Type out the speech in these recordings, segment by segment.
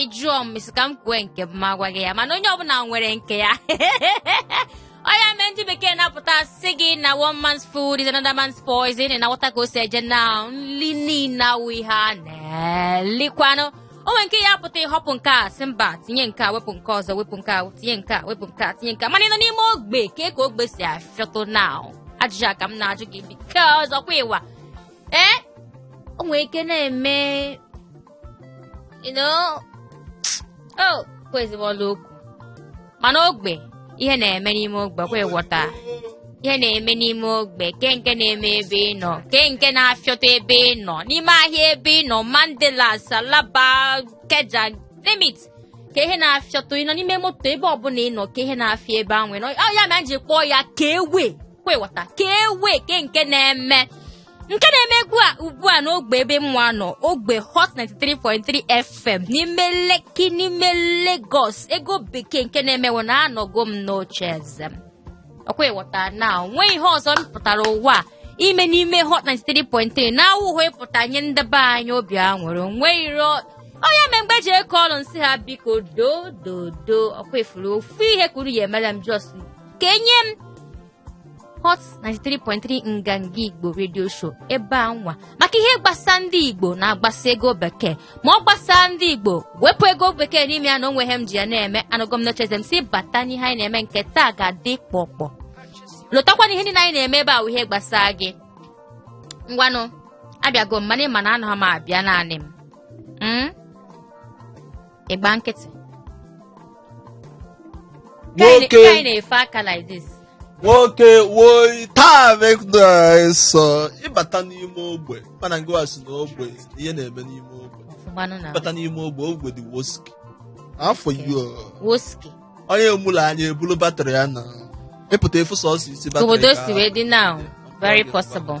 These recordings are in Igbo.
ị jụọ m ị sị ka m kwue nke m ma gwa gị ya mana onye ọbụla nwere nke ya ọ ya mee ndị bekee na-apụta sị gị na one man's food is another man's poison ị na-aghọta ka o si eje na nli niile awụ ihe a na-elikwanụ o nwere nke ya pụta ịhọpụ nke a sị mba tinye nke a wepụ nke ọzọ wepụ nke a tinye nke a wepụ nke a tinye nke a mana ị nọ n'ime ogbe ka ka ogbe si afịọtụ na ajụjụ a ka m na-ajụ gị because ọkwa ịwa ee o nwere ike na-eme you know oh kwezibụ ọla okwu mana ogbe ihe na-eme n'ime ogbe kwa ịghọta ihe na-eme n'ime ogbe ke nke na-eme ebe ị nọ ke nke na-afịọta ebe ị nọ n'ime ahịa ebe ị nọ mandilas alaba ikeja limit ke ihe na-afịọta ị nọ n'ime moto ebe ọbụla ị nọ ke ihe na-afịọ ebe ahụ ị nọ Ọ ya mee m ji kpọọ ya ke way kwa ịghọta ke way ke nke na-eme nke na-eme ugbu a n'ogbe ebe mwa nọ ogbe hot 93.3 fm n'ime lekki n'ime lagos ego bekee nke na-eme wụ na anọgo m n'oche eze m ọkwa ịghọta na nwee ihe ọzọ m pụtara ụwa ime n'ime hot 93.3 na awụhụ ịpụta nye ndị be anyị obi aṅụrị onwe iro ọ ya mee mgbe ji eke ọrụ m sị ha biko do do do ọkwa ifuru ofu ihe ka unu ya emela m just ka enye m Hot 93.3 Nganga Igbo Radio Show ebe a nwa maka ihe gbasa ndị Igbo na-agbasa ego bekee ma ọ gbasaa ndị Igbo wepụ ego bekee n'ime ya na onweghị ihe m ji ya na-eme anọgo m n'oche eze m si bata n'ihe anyị na-eme nke taa ga-adị kpọkpọ lotakwa na ihe niile anyị na-eme ebe a wụ ihe gbasa gị ngwanụ abịago m mana ị ma na anọ m abịa naanị m ịgba nkịtị Ka anyị- Nwoke. ka anyị na-efe aka like this nwoke woi taa mekdso ịbata n'ime ogbe mana ngịwa si na ogbe ihe na-eme n'ime ogbe ọfụmanụ na ịbata n'ime ogbe ogbe dị woski afọ yo woski onye amụlọ anya ebulu batrị ya na ịpụta ịfụ sọsọ isi batrị obodo ka- si wee dị now very possible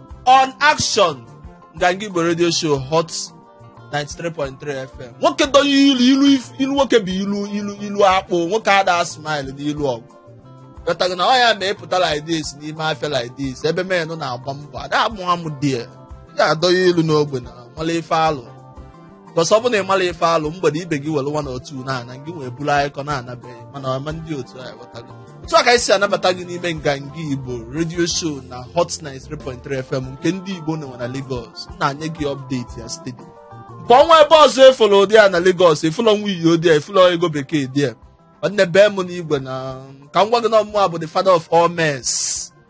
on action nganga igbo radio show hot 93.3 fm nwoke dọọ ilu ilu if- ilu nwoke bụ ilu ilu ilu akpụ nwoke ada smile n'ilu ọgụ ghọtago na ọ ya mee ịpụta like this n'ime afịa like this ebe men nọ na-agba mbọ ada amụ amụ dị ya adọghị ilu n'ogbe na nwale ife alụ because ọ bụ na ị mala ife alụ mgbede ibe gị were one or two na-ana gị nwee buru akụkọ naa na be gị mana ọma ndị otu a ghọtago otu a ka anyị si anabata gị n'ime nganga igbo radio show na hot 93.3 fm nke ndị igbo na-enwe na lagos m na-anye gị update ya steady ka onwe ebe ọzọ efulu ụdị a na lagos efulu nwanyị ụdị a efulu ego bekee dị a nwanne bee m n'igwe na ka m gwa gị na ọ mụwa bụ the father of all mess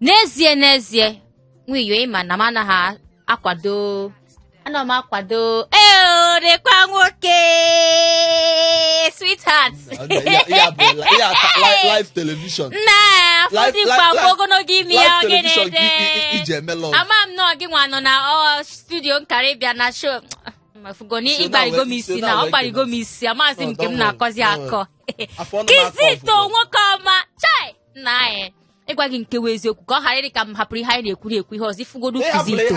n'ezie n'ezie nwiyo ịma na m anaghị akwado ana m akwado eorekwa nwoke sweetheart live television na ọ fọdụkwa mgbe ogologo ime ya oge na-ede ama m na gị nwa nọ na studio m kara ịbịa na show mafugoni ịgbarigo m isi na ọ gbarigo m isi amaghịzi m nke m na-akọzi akọ kizito nwoke ọma chai nna anyị ịgwa gị nke wụ eziokwu ka ọ ghara ịdị ka m hapụrụ ihe anyị na-ekwuri ekwu ihe ọzọ ifugodu kizito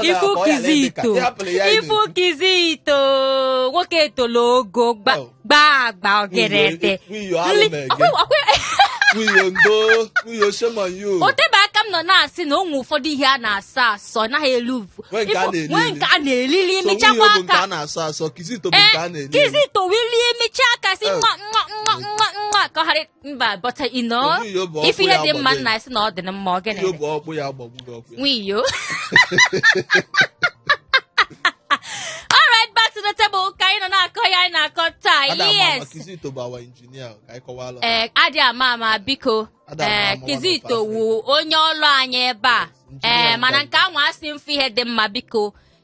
ifu kizito ifu kizito nwoke etolo ogo gbaa agba ogerete otebe aka m nọ na-asị na o nwee ụfọdụ ihe a na-asọ asọ anaghị eli nwee nke a na-eli eli emechakwa aka kizito wee lie emechaa aka si nwa nwa nwa nwa nwa ka ọ ghara mba but you know Obi iyo bụ ọkpụ ife ihe ya dị mma gbagoro. nna asị na ọ dị na mma ọ gịnị Iyo bụ ọkpụ ya gbagburu ọkpụ ya. nwiyo alright back to the table ka anyị nọ na-akọ ya anyị na-akọ taa Ada ama ama yes Kizito bụ our engineer ka anyị kọwalụ. ee adị ama ama biko Ada ama ee ama kizito nwanne wu onye ọlụ anyị ebe a Yes, engineer ee mana nke nke a nwa asị m fụ ihe dị mma biko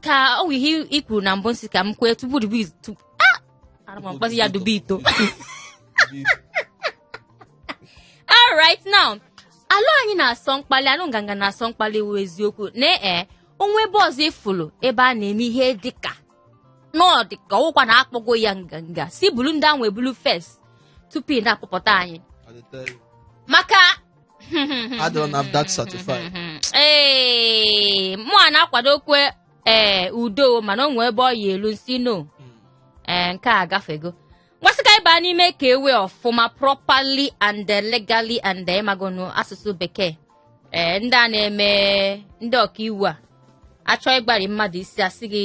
ka ọ wụ ihe i kwuru na mbụ m sị ka m kwee tupu dubu itu ah ara m mkpọzi ya dubu ito all right now alụ anyị na-asọ mkpali anụ nganga na-asọ mkpali wụ eziokwu na ee o nwe ebe ọzọ ịfụlụ ebe a na-eme ihe dịka na ọ dịka ọ wụkwa na akpọgo ya nganga si bulu ndị ahụ ebulu first tupu ị na-akpọpụta anyị I dey tell you. maka adịrọ NAFDAC certified ee mụwa na-akwadokwa ee udo mana o nwee ebe ọ ya-elu m sị no ee nke a gafego ngwa sị ka anyị baa n'ime ka ewe ọfụma properly and eh, legally and eh, ịmagonu asụsụ bekee ee ndị a na-eme ndị ọkaiwu a achọ ịgbari mmadụ isi asị gị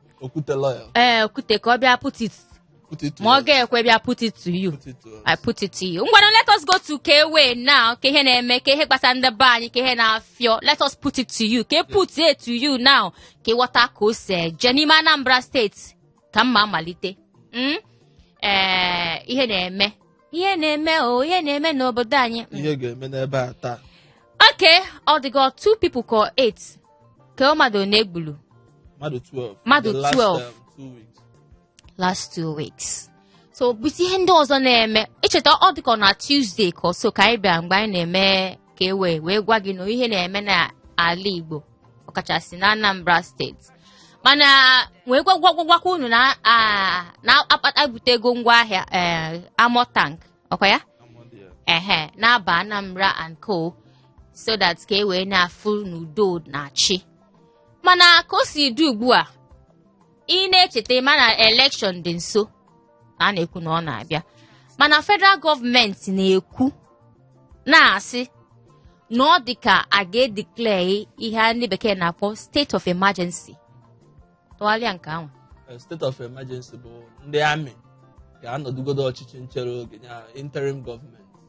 okwute lọya ee okwute ka ọ bịa put it okwute itu ma ọ ga-ekwe bịa put it to you okwute itu I put it to you. Ngwanụ, let us go to K-Way now. Ka ihe na-eme, ka ihe gbasa ndị be anyị, ka ihe na-afịọ. Let us put it to you. Ka e put it to you now. Ka ịwọta ka o si eje n'ime Anambra steeti. Ka mma malite. Mm? Eh, ihe na-eme. ihe na-eme o ihe na-eme n'obodo anyị mm. ihe ga-eme n'ebe a taa okay ọ dịgo two people ka eight ka mmadụ na-egbulu mmadụ 12 Mmadụ The last, 12. um, two weeks. last two weeks so bụzi ihe ndị ọzọ na-eme icheta ọ dịka na Tuesday ka ọso ka anyị bịa mgbe anyị na-eme ka e wee wee gwa gị na ihe na-eme n'ala Igbo ọkachasị na Anambra steeti mana wee gwagwagwagwakwa unu na ah, na-akpata butego ngwa agha eh, armour tank ọkwa ya ehe na-aba anambra and co so that ka e wee na-afụ n'udo na-achị mana ka o si dị ugbu a ị na-echeta mana elekshọn dị nso ka a na-ekwu na ọ na-abịa mana federal gọọmenti na-ekwu na-asị na ọ dị ka a ga-edeclare ihe a ndị bekee na-akpọ state of emergency tụgharịa nke anwa Eh, state of emergency bụ ndị army ga-anọdụgodo ọchịchị nchere oge ya interim gọọmenti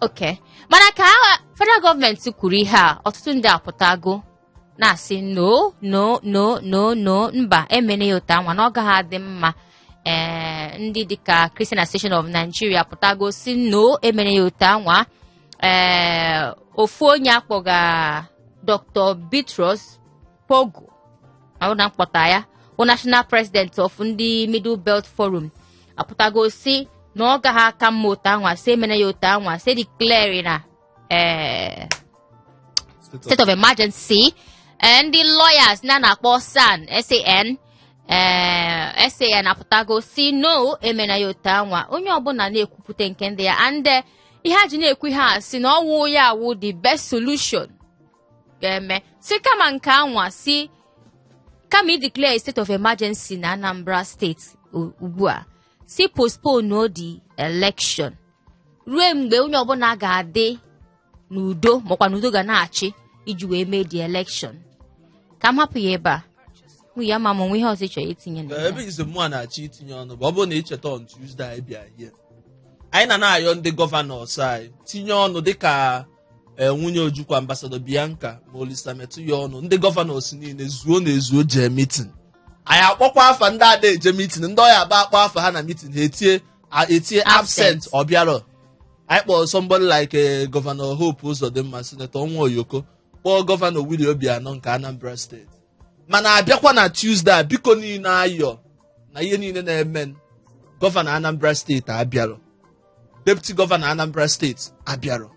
okay mana ka ah federal gọọmenti kwuru ihe a ọtụtụ ndị apụtago na-asị no no no no no mba emene ya otu anwa na ọ gaghị adị mma ee ndị dịka Christian Association of Nigeria apụtago si no emene ya otu anwa ee ofu onye akpọga Dr. Bitrus pogu na m kpọta ya bụ national president of ndị middle belt forum apụtago si na ọ gaghị aka mma otu anwa si emena ya otu anwa si declare na eh, state of emergency eh, ndị lawyers a na-akpọ SAN SAN ee eh, SAN apụtago si no emena ya otu anwa onye ọbụla na-ekwupụta nke ndị ya and ihe a ji na-ekwu ihe a si na ọ wụ ya wụ the best solution ga-eme si kama nke anwa si kama ideclare state of emergency na Anambra steeti ugbu a si postpone the election ruo mgbe onye ọbụla ga-adị n'udo makwa n'udo ga na-achị iji wee mee the election ka m hapụ ya ebe a mụ ya ma m o nwe ihe ọzọ ị chọrọ itinye na ebezi mụa na-achọ itinye ọnụ bụ ọ bụrụ na ị cheta on Tuesday anyị bịa here anyị na na-ayọ ndị gọvanọs anyị tinye ọnụ dịka ee nwunye ojukwu ambasadọ bianca ma olisa metuh yọọnụ ndị gọvanọs niile zuo na ezuo jee mitin anyị akpọkwa afa ndị ada eje mitin ndị ọ ya-abụ a kpọọ afa ha na mitin ha etie a- etie absent Absent. ọ bịarọ anyị kpọrọ somebody like eh, gọvanọ hope ụzọdịmma sinetọ ọnwa oyoko kpọọ gọvanọ willie obianọ nke anambra steeti mana a bịakwa na Tuesday a biko niile ayọ na ihe niile na-eme gọvanọ anambra steeti abịarọ deputi gọvanọ anambra steeti abịarọ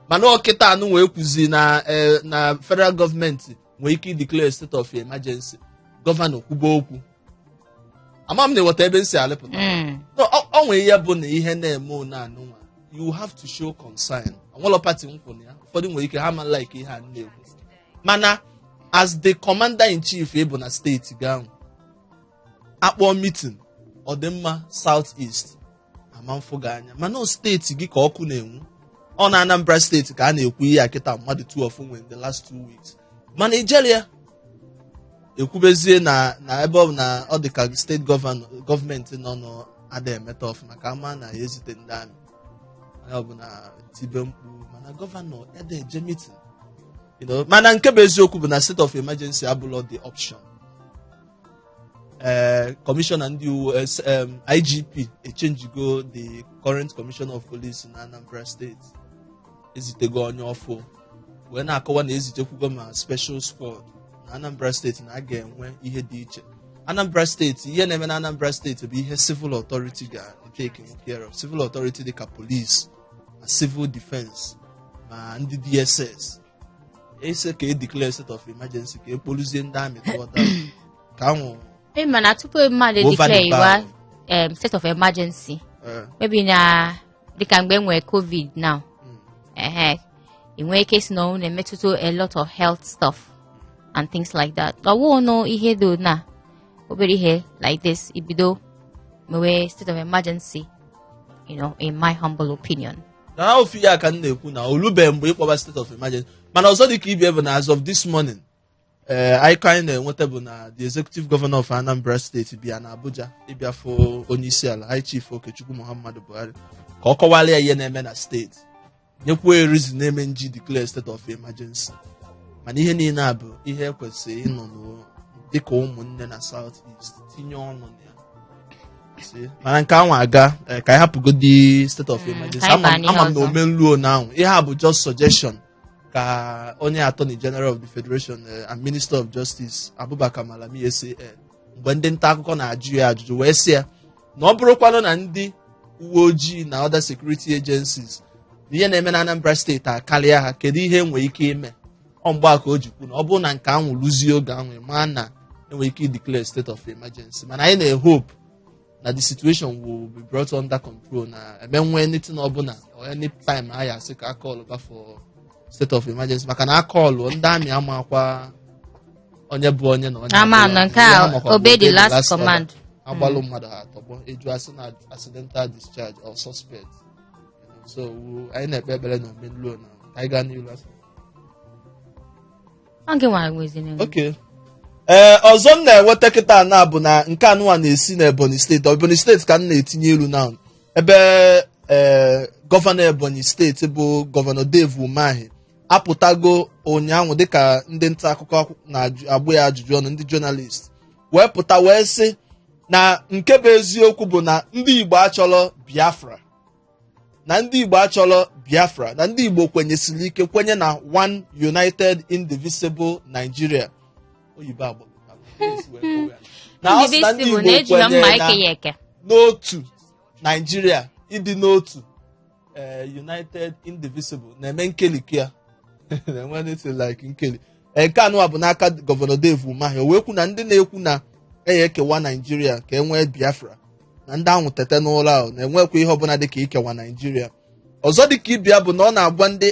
mana ọ kịtaa nụ wee kwuzi na eh, na federal gọọmenti nwee ike ideclare state of emergency gọvanọ kwuba okwu ama m na ị ghọta ebe m si alịpụta Mm. No, ọ ọ nwere ihe bụ na ihe na-eme one anụnwa you have to show concern o nwelọ pati m kwụ na ya ụfọdụ nwere ike ha ma like ihe a na-ekwu mana as the commander in chief ị bụ na steeti gị ahụ akpọọ mitin ọdịmma South East ama mfụ gị anya mana o steeti gị ka ọkụ na-enwu ọ na Anambra steeti ka a na-ekwu ihe a kịta mmadụ 12 nwụrụ in the last two weeks ma Nigeria ekwubezie na na ebe ọ bụ na ọ dị ka steeti gọvanọ gọọmenti nọ n'ada emeta ọfụma ka ama na ya ezite ndị amị ọ bụ na e tibe mkpu mana gọvanọ ede eje mitin You know, mana nke bụ eziokwu bụ na state of emergency abụlọ the option ee kọmishọna ndị uwe eh, s- em, igp echenjigo the current commissioner of police na anambra steeti ezitego onye ọfụ wee na-akọwa na ezitekwugo ma special squad na anambra steeti na a ga-enwe ihe dị iche anambra steeti ihe na-eme na anambra steeti bụ ihe civil authority ga-etake care of civil authority dịka police ma civil defense ma ndị dss asị ka e declare state of emergency ka e kpoluzie ndị amị tụọta ka anwụ ị ma na tupu mmadụ Over the declare iwa bar. em, state of emergency eh, maybe na dịka mgbe e nwere covid now mm, ehe ị nwee ike si na ọnwụ na-emetụta a lot of health stuff and things like that ọ wụ nụ ihe dị na obere ihe like this ibido mewe state of emergency you know in my humble opinion na ha ofu ihe a ka m na-ekwu na o lubeghị mgbe ịkpọba state of emergency mana ọzọ dị ka ibe ya bụ na as of this morning ee anyị ka anyị na-enweta bụ na the executive governor of anambra steeti bịa na abuja ịbịa fụ onye isi ala high chief okechukwu muhammadu buhari ka ọ kọwara ya ihe na-eme na steeti nyekwuo ya reason na eme nji declare state of emergency mana ihe niile a bụ ihe ekwesịrị ịnọ n'o- dịka ụmụnne na south east tinye ọnụ na ya sị mana nke anwa agaa eh, ka anyị hapụgodi state of Mm, emergency ka anyị ama baa m n'ihe ama m na ọzọ. omenluo na anwụ ihe a bụ just suggestion ka onye attorney general of the federation eh, and minister of justice abubakar malami san mgbe ndị nta akụkọ na-ajụ ya ajụjụ wee sị ya na ọ bụrụkwanụ na ndị uwe ojii na other security agencies na ihe na-eme na anambra steeti akarịa ha kedu ihe enwere ike ime ọ mgbe a ka o ji kwu na ọ bụrụ na nke anwụ luzie oge anwụ ma na enwere ike declare state of emergency mana anyị na-ehope na the situation will be brought under control na eme nwee anything ọbụla or any time a ya asị ka a call ba for state of emergency maka na a call ndị amị amakwa onye bụ onye na onye Ama abụghị na onye. nke a, Ihe amakwa bụ obey the last order. command. a gbalụ mmadụ ha atọgbọ eju asị na accidental discharge or suspect so we- anyị na-ekpe ekpere na omenluo na ka anyị gaa n'ihu asị Ọ gị nwa nweziri m. Okay. ee ọzọ m na-enweta kịta na bụ na nke anụwa na-esi na ebonyi steeti ebonyi steeti ka m na-etinye ilu na ebe ee gọvanọ ebonyi steeti bụ gọvanọ dave umahi apụtago ụnyaahụ dịka ndị nta akụkọ na-agba ya ajụjụ ọnụ ndị jọnalist wee pụta wee sị na nke bụ eziokwu bụ na ndị igbo achọrọ biafra na ndị igbo achọrọ biafra na ndị igbo kwenyesiri ike kwenye na one united indivisible nigeria oyibo agba na ọ sị na ndị igbo na-eji ha mma kwenyere na eke ya eke n'otu naijiria ịdị n'otu eh, united indivisible na-eme nkeliki ya na-enwe anything like nkeli Ee, nke anụwa bụ n'aka gọvanọ Dave Umahi o wee kwu na ndị na-ekwu na a ya-ekewa naijiria ka e nwee biafra na ndị ahụ tete n'ụra ahụ na enwekwa ihe ọbụla dịka ikewa naijiria ọzọ dịka ibe ya bụ na ọ na-agwa ndị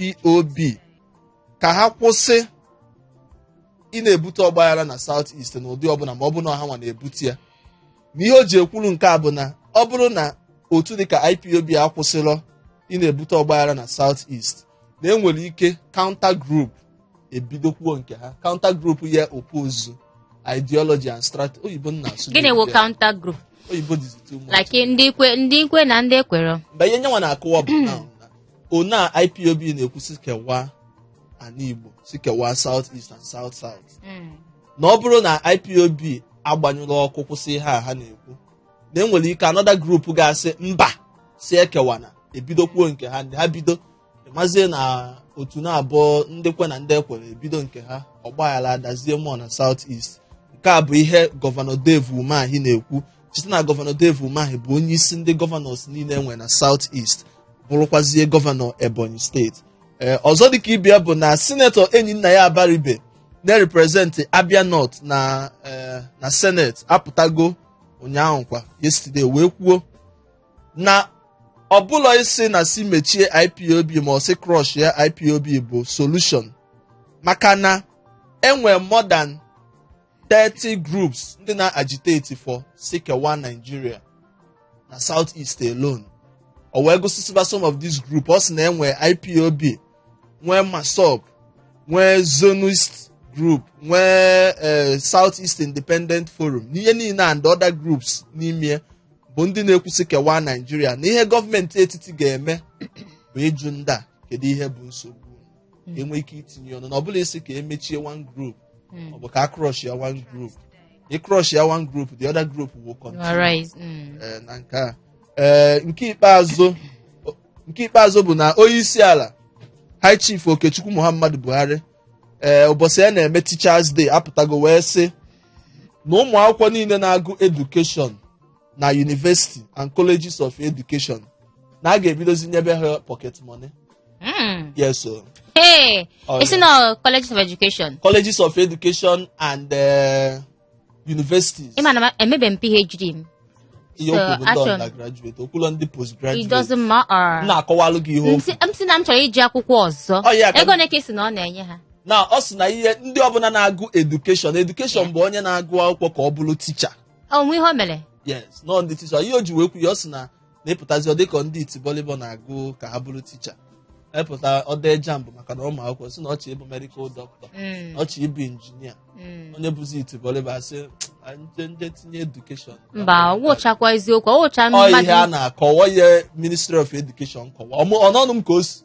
ipob ka ha kwụsị ị na-ebute ọgbaghara na South East na ụdị ọbụla ma ọ bụ na ọ ha nwa na-ebute ya na ihe o ji ekwuru nke a bụ na ọ bụrụ na otu dịka IPOB akwụsịrọ ị na-ebute ọgbaghara na South East na enwere ike counter group ebidokwuo nke ha counter group ya oppose ideology and strategy oyibo ị na-asụ gịnị wụ counter group oyibo dịzi too much like ndị kwe ndị kwe na ndị ekwerọ mgbe ihe nyanwa na-akọwa bụ na ọ na IPOB na-ekwu sị kewa ana Igbo sị kewa South East and South South na ọ bụrụ na IPOB agbanyụrọ ọkụ kwụsị ihe a ha na-ekwu na enwere ike another group ga-asị mba sị ekewana ebidokwuo nke ha ndị ha bido mazie na otu naabọ ndị kwe na ndị ekwerọ ebido nke ha ọgbaghara adazie mmụọ na South East nke a bụ ihe gọvanọ Dave Umahi na-ekwu cheta na gọvanọ Dave Umahi bụ onye isi ndị gọvanọs niile enwe na South East bụrụkwazie gọvanọ Ebonyi steeti ee ọzọ dịka ibe ya bụ na sinetọ enyinnaya abaribe na-representị Abia North na eh, na Senate apụtago ụnyaahụ kwa yesterday wee kwuo na ọ bụrọ ịsị na sị mechie IPOB ma ọ sị crush ya IPOB bụ solution maka na enwe more than 30 groups ndị na-agitate for sị kewa Nigeria na South East alone o wee gụsịsịba some of these groups ọ sị na enwe IPOB nwee massob nwee zionist group nwee eh, south east independent forum na ihe niile and other groups n'ime bụ ndị na-ekwu sị kewaa naijiria na ihe gọọmenti etiti ga-eme bụ ịjụ ndị a kedu ihe bụ nsogbu unu? enwe ike itinye ọnụ na ọ bụrọ ịsị ka emechie one group Mm. ọ bụ ka a crush ya one group ị crush ya one group the other group will You continue are right. Mm. eh, na nke a Eh, nke ikpeazụ o- nke ikpeazụ bụ na onye isi ala high chief okechukwu muhammadu buhari ee ụbọsị a na-eme teachers day apụtago wee sị na ụmụ akwụkwọ niile na-agụ education na university and colleges of education na a ga-ebidozi nyebe ha pocket money Mm. yes o Hey, Oh, it's yeah. not college of education. colleges of education and uh, universities ị ma na ma- emebe m phd m ihe so, okwu bụ ndị achọrọ m- undergraduate okwulọ ndị it postgraduate doesn't m matter na-akọwalụ gị ihe okwu si- m sị na m chọrọ ije akwụkwọ ọzọ Ọ ya ka m- ego nke a sị na ọ na-enye ha na ọ sị na ihe ndị ọbụla na-agụ education education bụ onye na-agụ akwụkwọ ka ọ bụrụ teacher o nwe ihe o mere yes no ndị teacher ihe o ji wee kwu ya ọ sị na na ị pụtazi ọ dịka ndị itibọlịbọ na-agụ ka ha bụrụ teacher epụta ọ dee jamb maka na ụmụ akwụkwọ sị na ọ chọ ịbụ medical doctor Mm. ọ chọ ịbụ injinia Mm. onye bụzi itibọlịbọ a sị "Ah, nje nje tinye education mba wụchakwa eziokwu ọ wụcha Ọ ihe a mmadụ na-akọwa ihe ministry of education kọwa ọ n'ọnụ m ka o si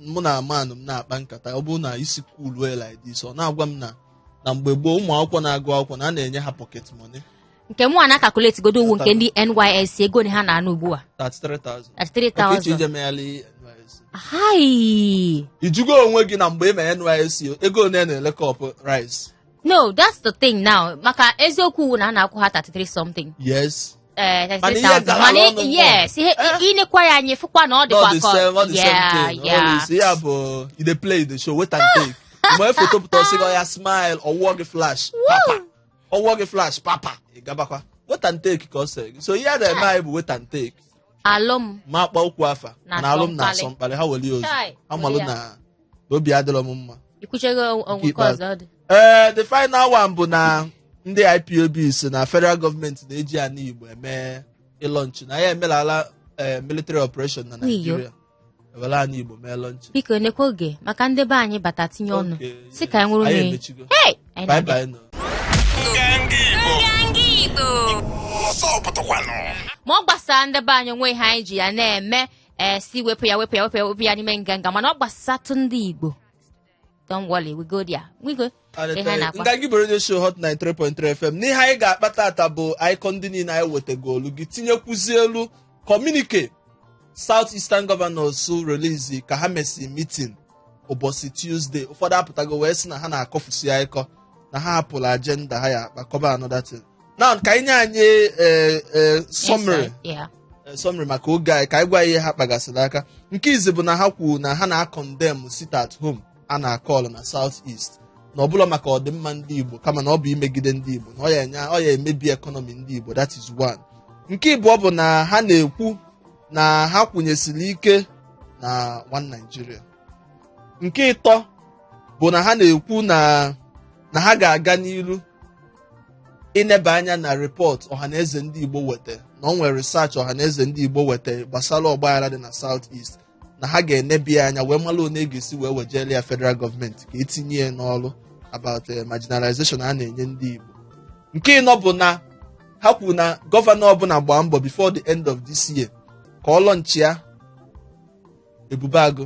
mụ na manụ m na-akpa nkata ọ bụrụ na isi cool well like this ọ na-agwa m na na mgbe gboo ụmụ akwụkwọ na-agụ akwụkwọ na a na-enye ha pocket money nke mụwa na-akakuleti godu ụgwọ nke ndị nysc ego one ha na-ana ugbu a 33,000 Ọ kwa ị chọ 33,000 ije megharị NYSC hai ị jụgo onwe gị na mgbe ị mere NYSC ego one a na-ele cup rice no that's the thing now maka eziokwu ụgwọ na a na-akwụ ha 33 something yes eh, Mana ihe 33,000. gara Mana ọnụ yes ihe Eh? i nekwa ya anya ị fụkwa na ọ not dịkwa the ka same not the same yeah thing yeah always ya bụ you dey play the show wait and take mgbe foto pụta ọ sị gị ya smile ọ wụọ gị flash papa ọ wụọ gị flash papa ị gabakwa wait and take ka ọ sị gị so ihe a na-eme anyị bụ wait and take alụm ma akpa okwu afa Na na alụm na-asọ mkpalị. asọ mkpalị ha weli ozu Chai, amalụ weli ya. na na obi adịrọ m mma i kwuchago ọgwụ nke ikpeazụ. ọzọ ọ dị ee the final one bụ na ndị ipob sị na federal gọọmenti na-eji ana igbo eme ịlọnchi na ya emelala ee, military operation na N'iyo. naijiria e were ana igbo mee lọnchi biko nekwa oge maka ndị be anyị bata tinye ọnụ Okay, sị ka anyị nwụrụ anyị n'enyi emechigo. Hey! Anyị Bye na-abịa. bye nụ. What's up, Batakwanụ? ma ọ gbasara ndị be anyị o nwe ihe anyị ji ya na-eme ee sị wepụ ya wepụ ya wepụ ya wepụ ya n'ime nganga mana ọ gbasatụ ndị igbo don't worry we go there we go ihe a na-akwa nga gị bụ radio show hot 93.3 fm n'ihe anyị ga-akpa taata bụ akịkọ ndị niile anyị wetagolu gị tinyekwuzi elu communique south eastern governors release ka ha mesi meeting ụbọsị tuesday ụfọdụ apụtago wee sị na ha na-akọfusi akịkọ na ha hapụrụ agenda ha ya-akpa kọba another thing na ka anyị nye anyị eh, eh, summary Insight, yeah. eh, summary maka oge anyị ka anyị gwa ya ihe ha kpagasịrị aka nke izi bụ na ha kwuru na ha na-acondemn sit at home a na-acall na south east na ọ bụrọ maka ọdịmma ndị igbo kama na ọ bụ imegide ndị igbo na ọ ya enye ọ ya emebi economy ndị igbo that is one nke ịbụọ bụ na ha na-ekwu na ha kwụnyesiri ike na one Nigeria nke ịtọ bụ na ha na-ekwu na na ha ga-aga n'iru ineba anya na report ọhaneze ndị igbo weta na ọ nwere research ọhaneze ndị igbo weta gbasara ọgbaghara dị na south east na ha ga-eneba ya anya wee mara one ga-esi wee wejere ya federal gọọmenti ka e tinye ya n'ọrụ about eh, marginalization a na-enye ndị igbo nke ịnọ bụ na ha kwuru na gọvanọ ọbụla gbaa mbọ before the end of this year ka ọ launchịa ebube agụ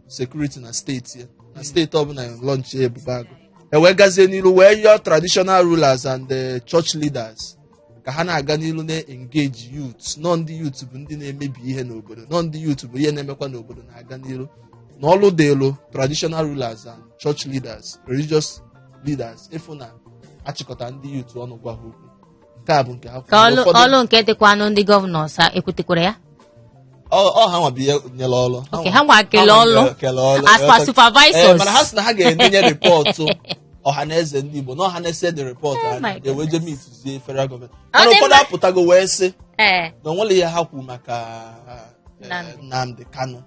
security na steeti ya na steeti ọbụla launchịa ebube agụ e wee gazie n'ilu wee yọọ traditional rulers and the church leaders ka ha na-aga n'ilu na-engage youth na ọ ndị youth bụ ndị na-emebi ihe n'obodo na ọ ndị youth bụ ihe na-emekwa na obodo na-aga n'ilu na ọlụ dịịlụ traditional rulers and church leaders religious leaders ịfụ na a chịkọta ndị youth ọnụ gwa ha okwu nke a bụ nke ha ka ọlụ Ụfọdụ- ọlụ nke dịkwanụ ndị governors ha ekwutekwara ya ọ- ọ ha nwa bụ ihe nyere ọlụ Okay, ha nwa kele nwa ọlụ. kele ọlụ. As per Eh, supervisors. eh, mana ha sị na ha ga-enye rịpọtụ ọha na eze ndị Igbo na ọha na eze dee rịpọtụ Oh ha my na-ede, wee jee goodness. meetizie federal gọọmenti Ọ mana dị ụfọdụ mma. apụtago wee sị ee na o nwerọ ihe ha kwuru maka eh, Nnamdi. Nnamdi Kanu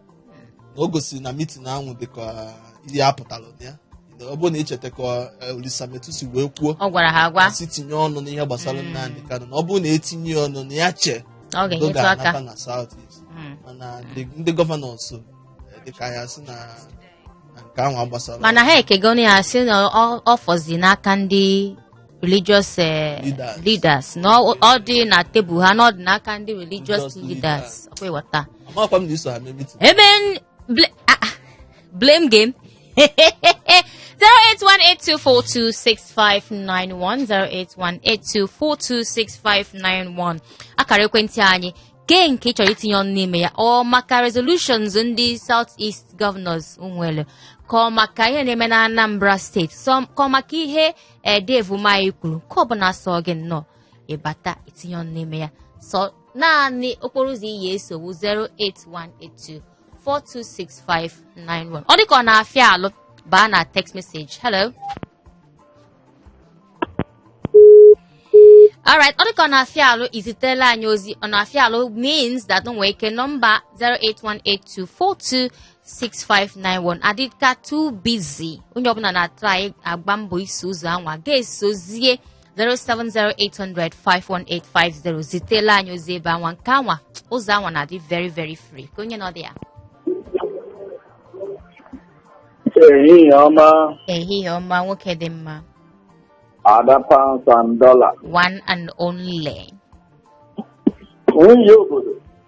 na o gosiri na mitin ahụ dịka ihe a pụtara na ya ọ bụrụ na i cheta ka eh, Olisa Metuh si wee kwuo ọ gwara ha agwa sị tinye ọnụ n'ihe gbasara Nnamdi Kanu na ọ bụrụ na e tinye ya ọnụ na ya chee na ọ udo ga-enyetụ aka ga-anata na South East Mm. mana ndị ndị governors eh, dịka ha sị na na nke ahụ agbasarọ mana ha ekegonu ya sị na ọ- ọ fọzi n'aka ndị religious eh, Leaders. leaders na ọ ọ dị na table ha na ọ dị n'aka ndị religious Religious leaders ọkwa ị ghọta amakwa m na i so ha mee mitin ebe n- bl- ah, ah, blame game 08182426591 akara ekwentị anyị kee nke ị chọrọ itinye ọnụ n'ime ya ọ maka resolutions ndị south east governors nwere ka ọ maka ihe na-eme na anambra steeti sọ- ka ọ maka ihe ee Dave Umahi kwuru nke ọbụla sọ gị nnọọ ịbata itinye ọnụ n'ime ya sọ naanị okporo ụzọ ị ya-eso wụ 08182 426591 ọ dịka ọ na-afịa alụ baa na text message hello alright ọ dịka ọ na-afịa alụ izitela anyị ozi ọ na-afịa alụ means that o nwee ike nọmba 0818242 6591 adịka too busy onye ọbụla na-atrai agba mbọ iso ụzọ anwa ga-esozie 07080051850 zitela anyị ozi ebe anwa nke anwa ụzọ anwa na-adị very very free ka onye nọ dị ya ehihie ọma ehihie ọma nwoke dị mma ada pounds and dollar one and only nwunye obodo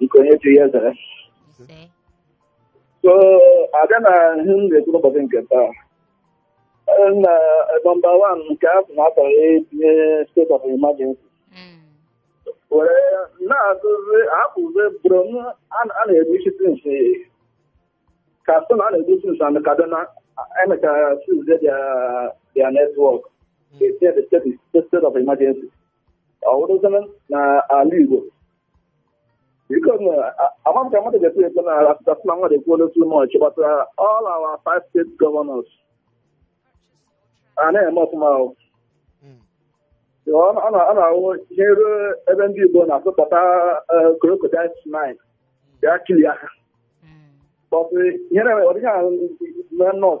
nke onye chi ya zara ise so abịa na ihe m na-ekwu n'ụbọchị nke taa eh, na nọmba one nke a sị na akarọ etinye state of emergency Mm. were na-ajụzi akpụzi Borno a na-egbusi since katsina a na-egbu since and kaduna emechara sizie their network state of emergency ọ wụrụzi na ala Igbo biko na ama m ka mmadụ ga-eto eto na asụsụ asụ na mmadụ ekwuola too much gbasara all our five state governors a na-eme ọfụma ahụ Mm. ọ na- ọ na- ọ na-awụ ihe ruo ebe ndị Igbo na-asụpụta crocodile smile ya kili aka Mm. But uh, you know, what kind of not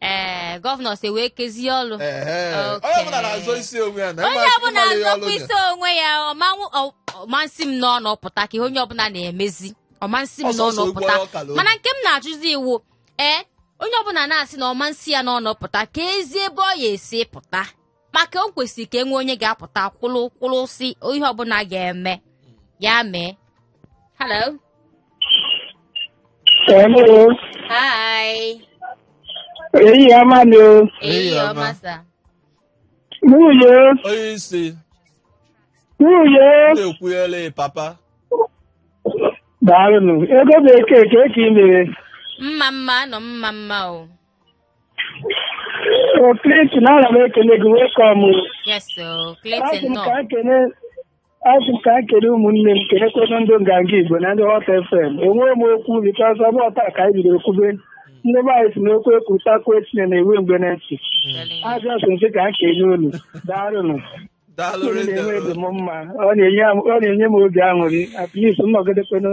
ee gọvanọ si wee kezie ọlụ Ehe. Okay. onye ọbụla na-azọ isi onwe ya na onye ịma- ọbụla ịmara ihe ọlụ azọkwa dị. isi onwe ya ọmanwụ ọ- ọ ma nsi m n'ọnụ pụta ka ihe onye ọbụla na-emezi ọ ma nsi m n'ọnụ pụta mana nke m na-ajụzi wụ ee onye ọbụla na-asị na ọ ma nsi ya n'ọnụ pụta keezi ebe ọ ya-esi pụta maka o kwesịrị ka e nwee onye ga-apụta kwụrụ kwụrụ sị ihe ọbụla ga-eme ya mee hello Hello. hi Ehihie ọma nụ o. ehihie ọma. ọma sa Nwunye. onye isi Nwunye. na-ekwunyere papa Daalụ nụ. Ego bekee kee ka i mere. mma mma nụ mma mma o O Clinton, ana m ekele gị welcome. yes o Clinton nnọọ asị m ka m kele ụmụnne m kelekwa ndị nganga Igbo na ndị Hot FM. Enweghị m okwu because ọ bụrọ taa ka anyị bidoro kwube. Ndị be anyị sị na okwu ekwutakwu etinye na-ewe mgbe na ntị. Telling you. A just sị ka m kele unu. Daalụnụ. daalụ rinne unu na-eme obi m mma ọ na-enye m- ọ na-enye m obi aṅụrị at least nnọgidekwenụ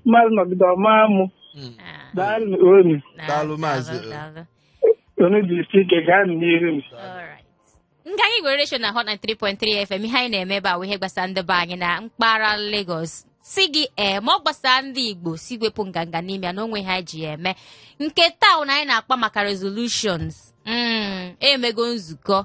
mmadụ nọgide ọma mụ Mm. Ah, daalụ unu na- Daalụ, Maazị. daalụ, daalụ. unu jisie ike gaa n'ihu m Alright. Nganga Igbo radio show na hot 93.3 fm ihe anyị na-eme ebe a wụ ihe gbasara ndị be anyị na mpaghara Lagos sị gị ee ma ọ gbasara ndị Igbo sị wepụ nganga n'ime ya na o nwe ihe anyị ji ya eme nke taa anyị na-akpa maka resolutions mm, emego nzukọ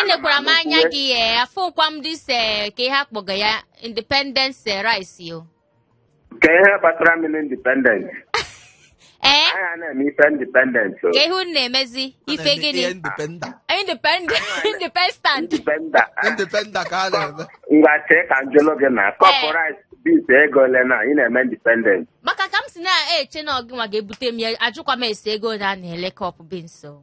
enekwara m anya gị ee afụkwa m this ee kee ihe a kpọga ya independence eh, rice o kee ihe kpatara mmiri independence ee anyị a na-eme ife independence o kee ihe unu na-emezi ife gịnị independa independent independent independa independa ka a na-eme ngwa chee ka m jụlụ gị na kọpụ rice beans ego ole na ị na-eme independence maka ka m si na-eche na ọ gịnwa ga-ebute m ya ajụkwa m ese ego ole a na-ele kọpụ beans o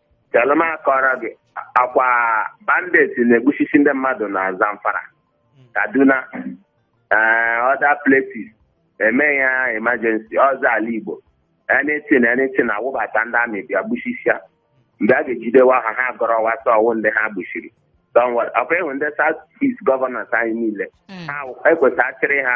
chelụ m kọọrọ gị ọkwa bandits na-egbusisi ndị mmadụ na zamfara kaduna ee other places eme ya emergency ọzọ ala igbo anything anything a wụbata ndị army bịa gbusisia mgbe a ga-ejidewa ha ha gọrọ wasa ọwụ ndị ha gbusiri Don't worry. ọkwa ị hụ ndị south east governors anyị niile Mm. ha ekwesị achịrị ha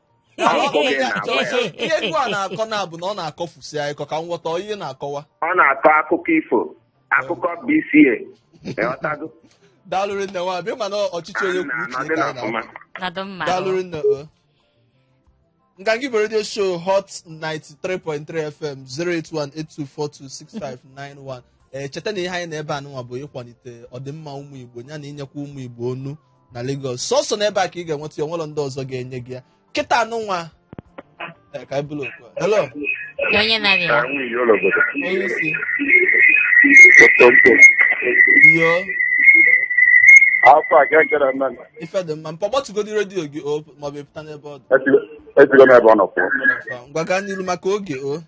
ihe egwu a na-akọ na-abụ na ọ na-akọfusi anyị kọ ka m ghọta ihe ọ na-akọwa ọ na-akọ akụkọ ifo akụkọ BCA ịghọtago daalụ rinne nwa Abia mana ọchịchị onye kwuo uche ka anyị na-akọ Ọ dị mma. daalụ rinne o nganga igbo redio show hot 93.3 fm 08182426591 ee cheta na ihe anyị nọ ebe a nụnwa bụ ịkwalite ọdịmma ụmụ igbo ya na inyekwa ụmụ igbo onu na Lagos sọsọ n'ebe a ka ị ga-enweta ya o nwerọ ndị ọzọ ga-enye gị ya kịta a nụnwa Eh, ka anyị buru oku a. hello onye na-abịa Ka nwunye ya ụlọ obodo. onye isi Tonto. yo Afọ a ka ekere eme na. ife dị mma mpa gbatugodi redio gị o maọbụ ị pụta n'ebe ọ dị Esigo m n'ebe ọ nọ pụọ. ngwa gaa n'iru maka oge o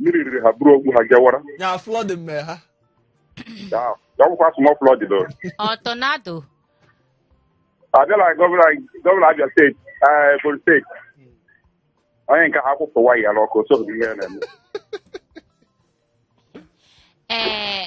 mmiri riri ha buru ogbu ha gawara ya flood mee ha ya ya ọ bụkwa small flood doro Ọ tornado. abịala gọvanọ gọvanọ Abia steeti eh, ebonyi steeti onye nke ha kwụpụ waya ya n'ọkụ so ihe ya na-eme Ee,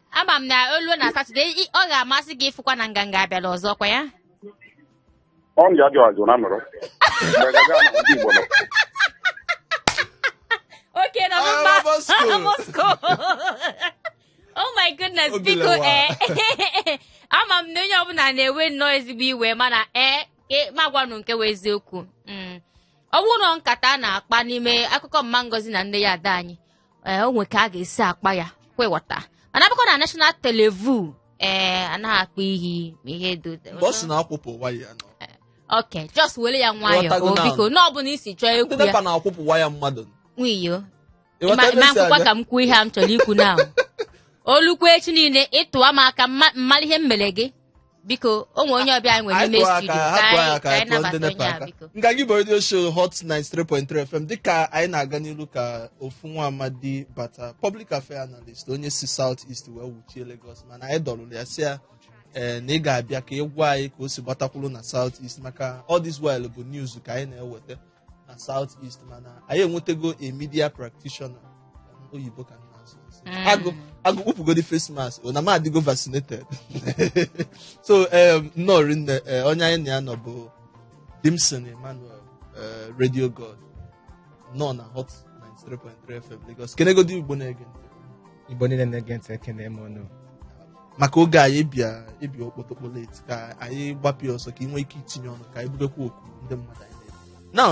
ama m na o luo na satọde ị- ọ ga-amasị gị ịfụkwa na nganga abịala ọzọ kwa ya ọ m ji ajụ ajụ na nọrọ Mgbe gaga na ndị Igbo nọ. okay na Ah, mba Moscow. Moscow. oh my goodness Obi biko lawa. ee ama m na onye ọbụla na-ewe nnọọ ezigbo iwe mana ee e- ma gwanụ nke wụ eziokwu Mm. ọ bụrụ na nkata a na-akpa n'ime akụkọ mma ngozi na nne ya ada anyị ee o nwe ka a ga-esi akpa ya kwe wọta mana abụkọ na national televu ee anaghị akpa ihe ma ihe dị otu- mgbe ọ sị na a kwụpụ waya ya n'ọkụ just were ya nwayọọ Ịghọtago o now. biko na ọ bụla isi chọọ ndị ekwu nepa ya na-akwụpụ waya mmadụ nwayọ Ịghọta ma ebe ma m si nkwụkwa abịa? ka m kwuo ihe a m chọrọ ikwu na o lukwu echi niile ị tụwa m aka mma- mmalụ ihe m mere gị biko o nwere onye ọbịa anyị nwere n'ime studio ka anyị ka anyị nabata onye a biko nganga igbo radio show hot 93.3 fm dịka anyị na-aga n'iru ka ofu nwa amadi bata public affair analyst onye si south east wee wuchie lagos mana anyị dọrụrụ ya sị ya ee na ị ga-abịa ka ị gwa anyị ka o si gbatakwuru na south east maka all this while bụ news ka anyị na-eweta na south east mana anyị enwetego a media practitioner oyibo ka m na-asụ asụ. Mm. agụ agụ kpụpụgodi face mask o na m adịgo vaccinated so um, nnọọ rinne eh, onye anyị na ya nọ bụ dimson emmanuel eh, radio god nọ na hot 93.3 fm lagos kenegodi igbo na-ege ntị. igbo niile na-ege ntị ekene m ụnụ maka oge anyị ị bịa okpotokpo late ka anyị gbapụ ya ọsọ ka ị nwee ike itinye ọnụ ka anyị bubekwa oku ndị mmadụ anyị na-ebi now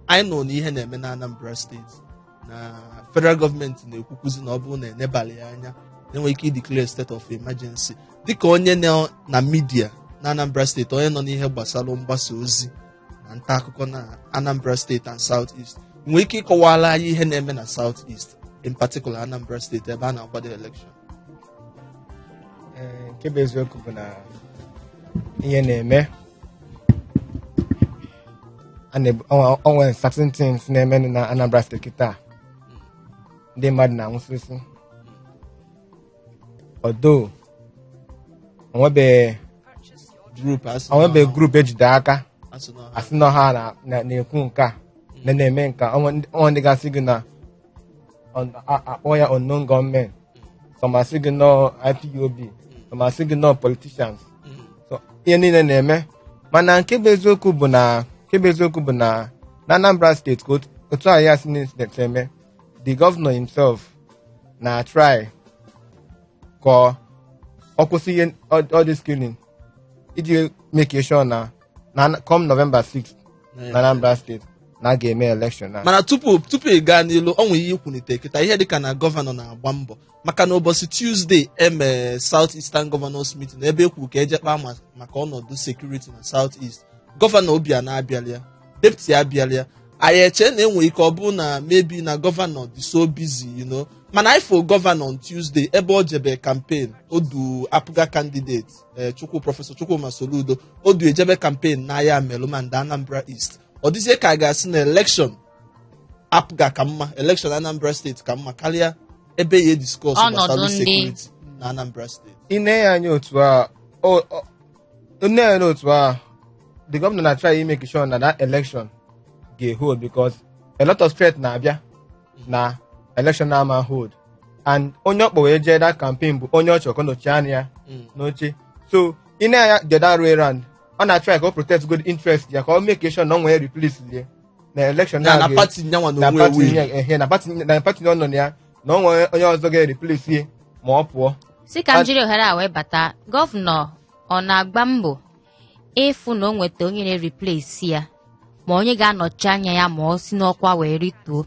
anyị nọ na ihe na-eme na anambra steeti na federal gọọmenti na-ekwukwuzi na ọ bụrụ na enebala ya anya na enwe ike ideclare state of emergency dịka onye nọ na midia na anambra steeti onye nọ n'ihe gbasara mgbasa ozi na nta akụkọ na anambra steeti and south east ị nwere ike ịkọwara anyị ihe na-eme na south east in particular anambra steeti ebe a na-akwado election Ee, nke bụ eziokwu bụ na ihe na-eme a na-ebu- o nwe- o nwere certain things na-eme na Anambra steeti kịta ndị mmadụ na-anwụsịsị although o nwebeghị Group asị na- o nwebeghị group ejide aka asị na ha- asị na ha na- na- na-ekwu nke a na na-eme nke a o nwe ndị- o nwe ndị ga-asị gị na on- a- akpọ ya unknown gunmen some asị gị na ọ ipob some asị gị na ọ politicians Mm. so ihe niile na-eme mana nke bụ eziokwu bụ na nke bụ eziokwu bụ na na anambra steeti ka otu- otu a ya si na incident eme the governor himself na-atry ka ọ- ọ kwụsị ihe all all this killing iji make sure na na come November 6th na Anambra steeti na a ga-eme election na mana tupu tupu ị gaa n'ilu o nwere ihe i kwunite kịta ihe dịka na gọvanọ na-agba mbọ maka na ụbọchị tuesday e me south eastern governors meeting ebe e kwuru ka eje kpaa ma- maka ọnọdụ security na south east gọvanọ obiano abịala ya deputy abịala ya anyị eche na enwere ike ọ bụrụ na maybe na gọvanọ dị so busy you know mana anyị fụ gọvanọ on tuesday ebe o jebe campaign o du apga candidate ee chukwu prọfesọ chukwuma soludo o du ejebe campaign na ayamelum and anambra east ọ dịzie ka a ga-asị na election apga ka mma elekshọn anambra steeti ka mma karịa ebe ya ediskọs gbasara sekuriti na anambra steeti i nee ya anya otu a i nee ya n'otu a the governor na try make sure na that election ga hold because a lot of threat na-abịa na election ama hold and onye ọ kpọ wee jee that campaign bụ onye ọ chọ ka ọ nọchi anya ya mm. n'oche so i nee ya anya the other way round ọ na-atry ka ọ protect good interest ya ka ọ make sure na ọ nwee replace ya na elekshọn na na na-aga pati nyanwa na na onwe pati ewu nye- ehe, na pati na pati ọ nọ na ya na o nwere onye ọzọ ga-eriplesi ya ma ọ pụọ sị ka m jiri ohere a wee bata gọvanọ ọ na-agba mbọ ịfụ na o nweta onye na-eriplesi ya ma onye ga-anọchi anya ya ma ọ si n'ọkwa wee rituo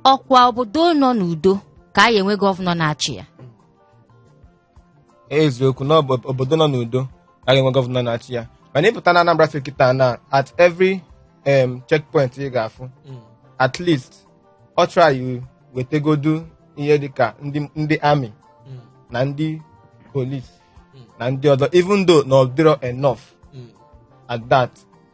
ọ kwa obodo nọ n'udo ka a ya-enwe gọvanọ na-achị ya eziokwu na ọ bụ obodo nọ n'udo ka a ga-enwe gọvanọ na-achị ya mana ị pụta na Anambra steeti kịta na at every um, checkpoint ị ga-afụ at least ọ try wetegodu ihe dịka ndị ndị army na ndị polis na ndị ọzọ even though na ọ dịrọ enough at that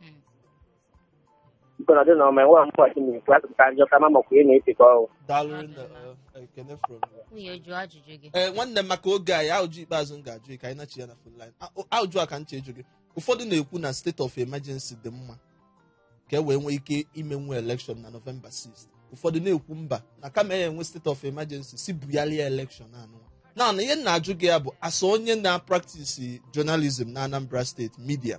Mm. Nkọrọ dị na ọma enwe mgbe ọchị na-ekwu atụpụta njọ ka ma makwa ihe na-etekọ ọrụ. daalụ nne eh, ekene from you. nwunye jụọ ajụjụ gị ee nwanne m maka oge anyị ajụjụ ikpeazụ m ga-ajụ gị ka anyị nachi ya na phone line ajụjụ a ka m chọ ịjụ gị ụfọdụ na-ekwu na state of emergency dị mma ka e wee nwee ike imenwu election na november 6 ụfọdụ na-ekwu mba na kama a ya-enwe state of emergency sị bugharịa election anụ na na ihe m na-ajụ gị ya bụ as onye na-apractice journalism na anambra steeti media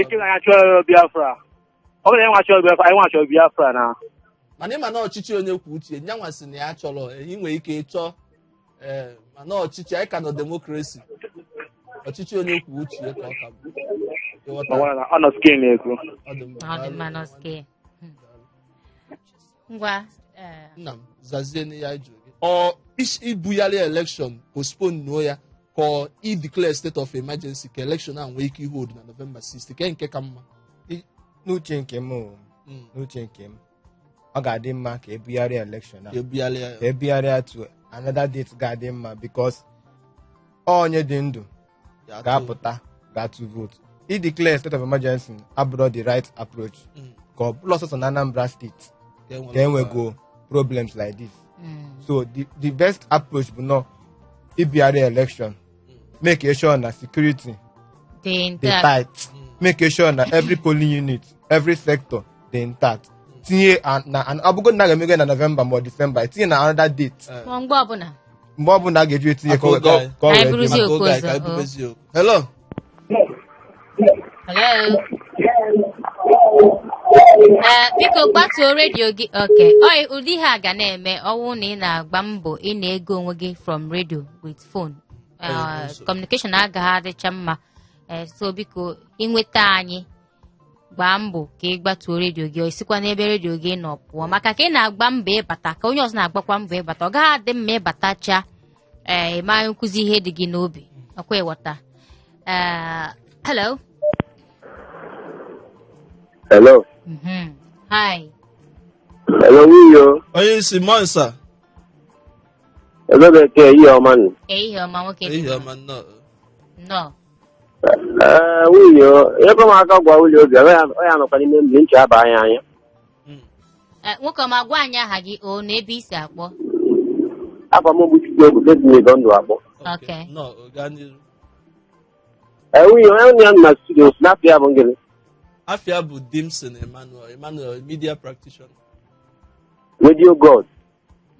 Ike na ya chọrọ Biafra. Ọ bụrụ na ịnwa chọrọ Biafra, ịnwa chọrọ Biafra na. mana ị ma na ọchịchị onye kwuo uche nyanwa sị na ya chọrọ ị nwere ike ịchọ ee mana ọchịchị anyị ka nọ demokrasi ọchịchị onye kwuo uche ya ka ọ ka bụ Ịghọta? Ọ nọ skin na-ekwu. Ọ dị mma. Ọ dị mma nọske. ngwa eh, nna m zazienụ ihe a jụrụ gị ọ is- ibugharị elekshọn postponuo ya ka ọ ideclare state of emergency ka elekshọn a nwee ike ihold na novemba 6 kee nke ka mma n'uche nke m o, Mm. n'uche nke m ọ ga-adị mma ka e bugharịa elekshọn a ka e bugharị ya ka e bugharịa to another date ga-adị mma because onye dị ndụ Ya too. ga-apụta ga-atụ vootu ideclare state of emergency abụrọ the right approach Mm. ka ọ bụrọ sọsọ na anambra steeti Ka e nwere ka e nwego problems like this so the, the best approach bụnụ ibugharị election make sure na security dị tight make sure na every polling unit every sector dị intact tinye a- na an- ọ bụgo na a ga-emego ya na nọvemba ma ọ disemba tinye na another date ma mgbe ọbụla mgbe ọ bụla a ga-eji etinye ka ọ- ka ọ- ka ọ Anyị wee dị bụrụzie mma. Maka oge anyị, ka anyị bube eziokwu. Hello? Hello? Ee, biko gbatuo redio gị oke ọyị ụdị ihe a ga na-eme ọwụ na ị na-agba mbọ ị na-ege onwe gị from radio with phone Ee, communication agaghị adịcha mma Ee, so biko ịnweta anyị gbaa mbọ ka ị gbatuo redio gị i sikwa n'ebe redio gị nọ pụọ maka ka ị na-agba mbọ ịbata ka onye ọzọ na-agbakwa mbọ ịbata ọ gaghị adị mma ị batacha ee ị maghị ekwuzi ihe dị gị n'obi ọkwa ị ghọta ee hello Hello. Mhm. hi Hello, Wiyo. onye isi mọnsa Hello, Bekee. Ehihie ọma nụ. ehihie ọma nwoke dị ehihie ọma nnọọ nnọọ Ee, Wiyo ebe m aka gwa Wiyo obi ọ ya- ọ ya nọkwa n'ime mmiri nche aba anya anya Eh, nwoke ọma gwa anyị aha gị o na ebe i si akpọ afa m bụ chukwu egwu ketinye ego ndụ akpọ Okay. Nnọọ, gaa n'iru. Ee, Wiyo onye nụ ya nọ na studio sị na afa ya bụ ngịnị Afa ya bụ Dimson Emmanuel, Emmanuel, media practitioner. redio god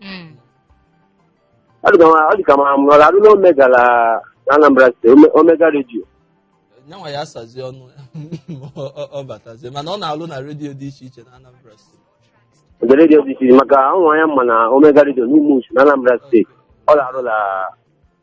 Mm. ọ dị ka ma- ọ dị ka ma ọ na-arụ na omega na na anambra steeti Ome- omega redio nyanwa ya asazi ọnụ ya Ọ- ọ- ọ batazie mana ọ na-alụ na redio dị iche iche na anambra steeti ndị redio dị iche iche maka ụmụ anya mma na omega redio n'Umuchu na anambra steeti ọ na-arụ na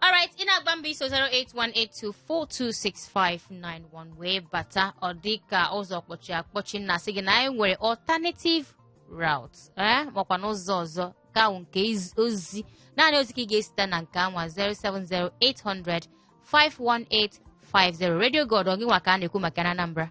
alright ị na-agba mbọ iso 08182426591 wee bata ọ dị ka ụzọ kpọchi akpọchi na-asị gị na anyị nwere alternative route ee makwa n'ụzọ ọzọ nke ahụ nke iz- ozi naanị ozi ka ị ga-esite na nke anwa 07080051850 radio god ọ gị nwa ka a na-ekwu maka na anambra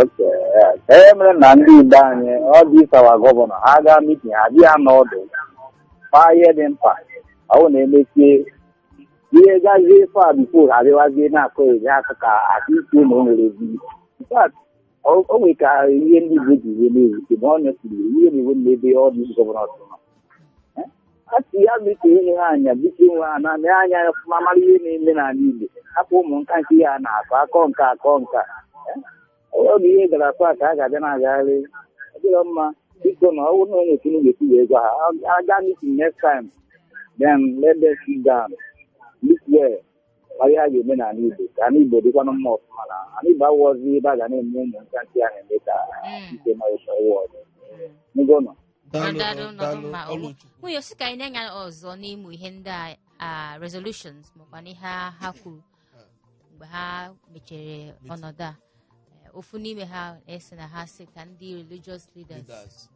Oke, ya. Kee ihe mere na ndị Igbo anyị, all these our governor, ha gaa meeting, ha bịa nọ ọdụ, kpaa ihe dị mkpa, ọ bụ na emesie ihe gazie far before ha adịwazie na-akọ ezi akụkọ akụ isi na o nwere ezi. In fact, o o nwere ka ihe ndị Igbo ji ihe na-ewute ma ọ nyesiri iwe na-ewe n'ebe all these governors nọ. a sị ya biko ụmụ ha anya biko ụmụ ha na nee anya ọfụma mara ihe na-eme n'ala Igbo hapụ ụmụ nka nke ihe a na-akọ akọ nka akọ nka ọ bụ ihe gara far ka a ga-abịa na-agagharị ọ dịrọ mma biko na ọ bụrụ na o nwee otu a ga-esi wee gwa ha a gaa meeting next time then let them sit down look well mara ihe a ga-eme n'ala Igbo ka ala Igbo dịkwanụ mma ọfụma na ala Igbo awụọzi ebe a ga na-eme ụmụ nka nke a na-eme ka ike ma ịsọ ụwa ọzọ n'ụgwọ nọ Daalụ, Daalụ, daalụ, daalụ, mba, ọlụ ọlụ. Chukwu. nwunye si ka anyị nenye anya ọzọ n'ime ihe ndị a- a resolutions makwa na ihe a ha kwuru mgbe ha mechere ọnọdụ a Eh, ofu n'ime ha a sị na ha sị ka ndị religious leaders Leaders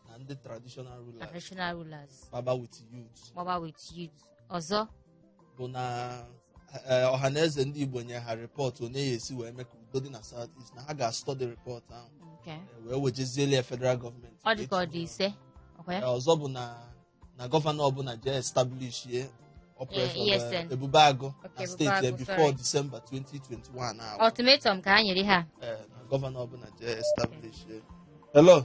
na ndị traditional na rulers traditional rulers baba with youth gbaba with youth ọzọ bụ na eh, Ọhaneze Ndị Igbo nye ha report on ihe a esi wee mee ka udo dị na South East na ha ga-astudy report ahụ Okay. eh, wee wejezieli ya federal government ọ dị ka ọ dị ise ọ kwa ya Eh, ọzọ bụ na na governor ọbụla jee establishie operation Eh, ESN. eh, Ebube Agụ na Okay, state ya Ebubeagụ, before sorry. December 2021 ahụ ultimatum ka ha nyere ha Eh, na governor ọbụla jee establishie hello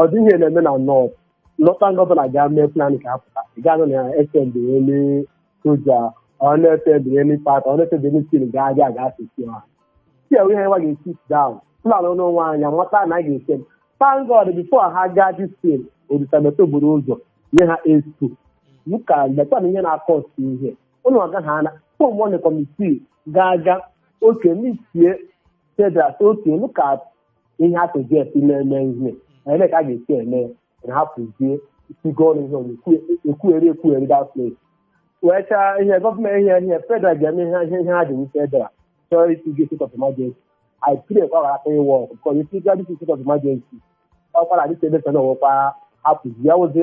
ọ dị ihe na-eme na north lọta ndị ọbụla ga mee plan ka a pụta ị ga-anụ na fm dị elu soja ọnụ fm dị elu pati ọnụ fm dị elu stil ga-adị aga asụsụ ha si ewe ihe nwa ga-esi down plan n'onwe anyị amata na a ga-esi m thank God before ha gaa dị stil odutamete buru ụzọ nye ha estu ka lekwa na ihe na-akọ ọtụ ihe ụlọ agaghị ana form one committee ga-aga oke meetie federal oke lụka ihe a South East na-eme ihe ele ka a ga-esi eme ya na hapụzie isigo ọnụ ihe ọnụ ekwugheri ekwugheri that place wee chaa ihe government ihe ihe federal ga-eme ihe ihe ihe ha ji wu federal chọrọ isi gị state of emergency I pray ka ọ ghara aka ịwork because if you got this state of emergency ọkwara adịsa ebe sana ọ wụkwa hapụzi ya wụzi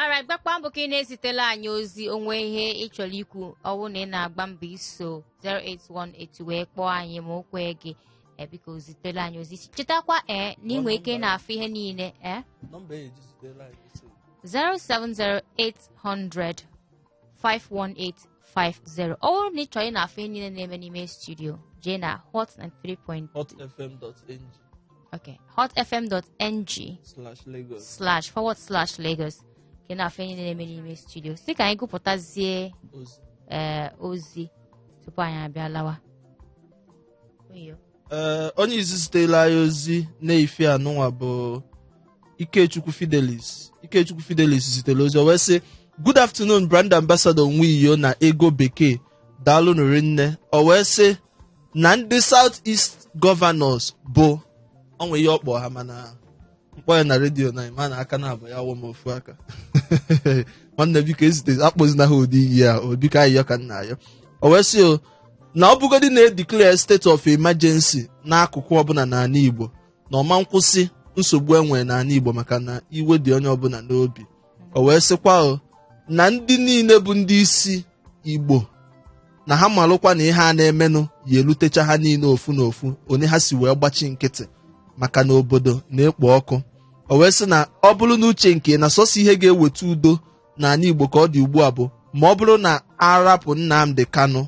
alright gbakwa mbọ ka ị na-ezitela anyị ozi o nwee ihe ị chọrọ ikwu ọ wụ na ị na-agba mbọ iso 08182 wee kpọọ anyị ma o kweghị eh, biko zitela anyị ozi chetakwa ee eh, na i nwe ike na-afụ ihe niile ee eh? 070 800 51850 ọ bụrụ na ị chọrọ ị na-afụ ihe niile na-eme n'ime studio jee na hot 93.3 hotfm.ng okay hotfm.ng slash Lagos. slash forward slash Lagos ka ị na-afụ ihe niile na-eme n'ime studio si ka anyị gụpụtazie Ozi. ee ozi tupu anyị abịa lawa Oyo. ee onye izizi zitela anyị ozi n'efifie a nụnwa bụ Ikechukwu Fidelis Ikechukwu Fidelis zitere ozi o wee sị good afternoon brand ambassador Nwiyo na Ego Bekee daalụ nụ rinne o wee sị na ndị South East governors bụ o nwe ihe ọ kpọ ha mana m kpọọ ya na redio na ma na aka naabọ ya wụ m ofu aka nwanne biko ezite akpọzina ha ụdị iyi a o biko ayịyọ ka m na-ayọ o wee sị o na ọ bụgodị na e declare state of emergency n'akụkụ ọbụla n'ala Igbo na ọ man kwụsị nsogbu e nwere n'ala Igbo maka na iwe dị onye ọbụla n'obi o wee sịkwa o na ndị niile bụ ndị isi igbo na ha malụkwa na ihe a na-emenụ ya-elutecha ha niile ofu na ofu onye ha si wee gbachi nkịtị maka na obodo na-ekpo ọkụ o wee sị na ọ bụrụ na uche nke na sọsọ ihe ga-eweta udo n'ala igbo ka ọ dị ugbu a bụ ma ọ bụrụ na a rapụ nnamdi kanu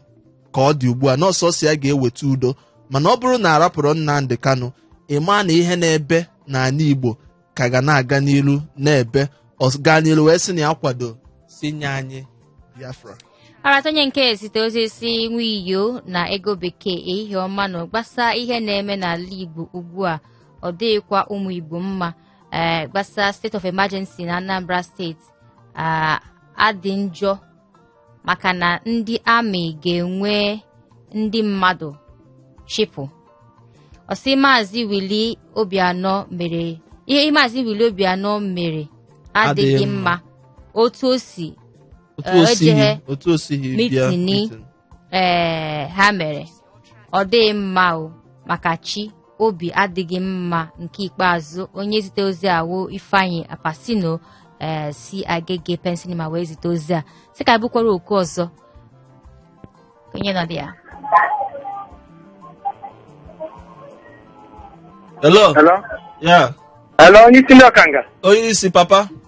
ka ọ dị ugbu a na ọ sọsọ ya ga-eweta udo mana ọ bụrụ na a rapụrọ nnamdi kanu ị ma na ihe na-ebe n'ala igbo ka ga na-aga n'ilu na-ebe ọ gaa n'ilu wee sị na ya kwado sị nye anyị biafra arata onye nke ezite ozi sị nwiyo na ego bekee ehihie ọma nụ gbasa ihe na-eme n'ala igbo ugbu a ọ dịghịkwa ụmụ igbo mma ee gbasa state of emergency na anambra steeti ah, adị njọ maka na ndị amị ga-ewe ndị mmadụ chịpụ ọ sị maazị willie obiano mere ihe maazị willie obiano mere adịghị mma otu o si otu Eh, o sighi ejeghe otu o sighi bịa meeting. ee ha mere ọ dịghị mma o maka chi obi adịghị mma nke ikpeazụ onye zite ozi a wụ ifeanyi apasino ee eh, si agege pen cinema wee zite ozi a sị ka bụkwara oku ọzọ onye nọ dị ya hello hello yeah hello onye isi ndị ọkanga onye isi papa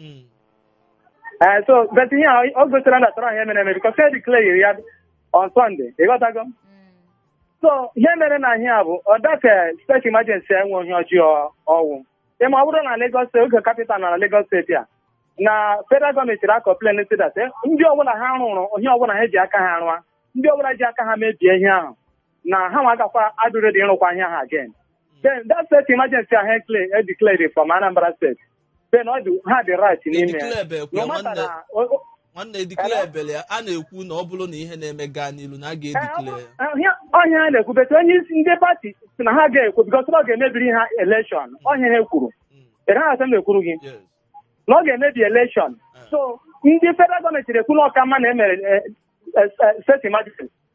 Mm. Eh, so but ihe a ọ gosira na tọrọ ihe mere eme bikọs e declare ya on Sunday ị ghọtago so ihe mere na ihe a bụ ọ dat steeti emergency enwe ihe ọjọọ ọ wụ ị ma ọ bụrụ na Lagos steeti oge kapital na Lagos steeti a na federal gọọmenti ra-akọmplen sị dat ndị ọbụla ha rụrụ ihe ọbụla ha ji aka ha rụa ndị ọbụla ji aka ha mebie ihe ahụ na ha nwa agakwa adị ready ịrụkwa ihe ahụ again then that state emergency ahụ e declared from Anambra state then ọ dị ha dị right n'ime ya Declare bụ no ekwe, matter nwanne. na o- o- nwanne edikle ebele ya a na-ekwu na ọ bụrụ na ihe na-eme gaa n'ilu na a ga-edikle ya ọ ihe a na-ekwu but onye isi ndị pati sị na ha aga-ekwe bikos ọ ga-emebiri ha elekshọn ọ ihe ha kwuru Mm, ị gaghị asị m ekwuru gị yes. na ọ ga-emebi elekshọn so ndị federal gọọmenti na-ekwu na ọ ka mma na e mere eh, eh, eh, state emergency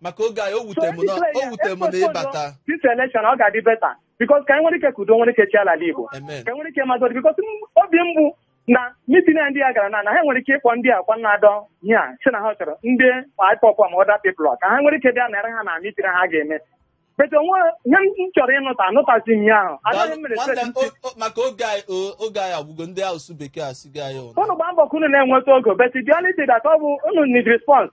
maka oge anyị o wute m na o wute m na ịbata this election ọ ga-adị beta bikos ka anyị nwere ike ka udo nwere ike chịa ala igbo Amen. ka enwere ike mazọdị bikos obi m bụ na mitin a ndị a gara na na ha nwere ike ịkpọ ndị a kwa na-adọ ihe a sị na ha chọrọ ndị ipob ma other people ka ha nwere ike bịa nara ha na mitin ha ga-eme but o nwe ihe m chọrọ ịnụta anụtazi m ya ahụ anaghị m mere Nwanne, stress ntị. o- o- maka oge anyị o- oge anyị agwụgo ndị asụsụ bekee asịgo anyị ụra unu gba mbọ ka unu na-enweta oge but the only thing that ọ bụ unu need response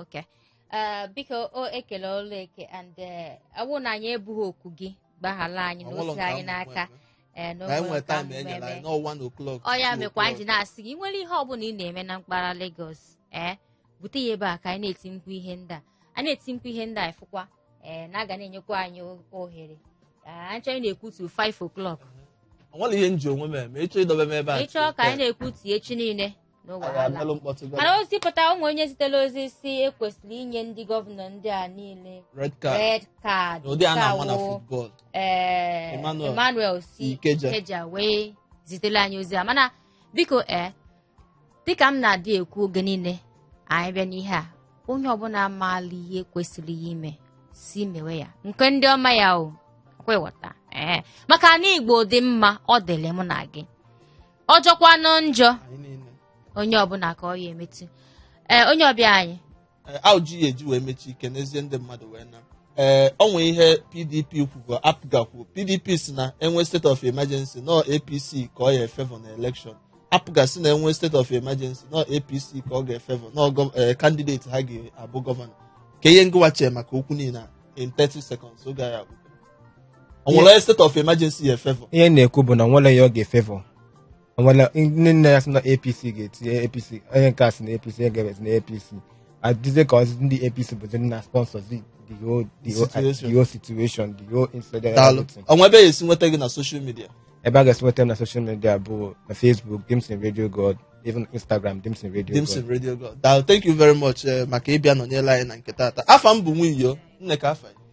okay Eh, biko o ekele ọlụ eke and eh, ọ wụ na anyị ebughị oku gị gbaghala anyị Ọ bụrụ na o si nke anyị ahụ n'aka mgbe- Eh, na o na anyị nwere nwere nke ahụ taịm mgbe enyere eme. anyị n'ọwa na oklọk ọ ya mekwa anyị ji na-asị gị nwere ihe ọbụla ị na-eme na mpaghara Lagos ee bute ya ebe a ka anyị na-eti mkpu ihe ndị a a na-eti mkpu ihe ndị a ị fụkwa ee na a ga na-enyekwa anyị o- ohere Ee, anyị chọọ anyị na-ekwutu 5 o'clock o nwere ihe m ji onwe m eme ị chọọ idobe m ebe a ị chọọ ka anyị na-ekwutu echi niile No Anyị wahala. abịalụ mkpọtụ gọvanọ. mana ozi pụta ụmụ onye zitela ozi sị e kwesịrị inye ndị gọvanọ ndị a niile red card red card n'ụdị a na-ama na Nke a wụ, football eh, Emmanuel si Ikeja wee zitere anyị ozi a mana biko ee dịka m na-adị ekwu oge niile anyị bịa n'ihe a onye ọbụla amaala ihe kwesịrị ya ime si mewe ya nke ndị ọma ya o kwewọta ee maka na Igbo dị mma ọ dịrị mụ na gị ọ jọkwanụ njọ anyị niile onye ọbụla ka ọ ya emetụ ee onye ọbịa anyị Ee, ajụjụ e ji wee mechie i kenezie ndị mmadụ wee naa ee o nwee ihe pdp kwugo apga kwuo pdp sị na e nwee state of emergency na ọ apc ka ọ ya-efevọ na election apga sị na e nwee state of emergency na ọ apc ka ọ ga-efevọ na ọ gọ- ee, candidate ha ga-abụ gọvanọ kee ihe ngịwa chee maka okwu niile a in 30 seconds oge anyị agwụ o nwere state of emergency ya efevọ ihe m na-ekwu bụ na nwere ya ọ ga-efevọ o nwere ndị nne ya sị na apc ga-etinye apc onye nke a sị na apc onye nke a sị na apc ọ dịzie ka ọzọ ndị apc bụzi ndị na sponsors the the whole the whole Situation. the whole situation the whole incident daalụ everything. o nwe ebe a ya-esi nweta gị na social media ebe a ga-esi nweta m na social media bụ na facebook dimson radio god even instagram dimson radio dimson god radio god daalụ thank you very much eh, maka ịbịa nọnyere anyị na nke taata afa m bụ nwunyo nne ka afa ya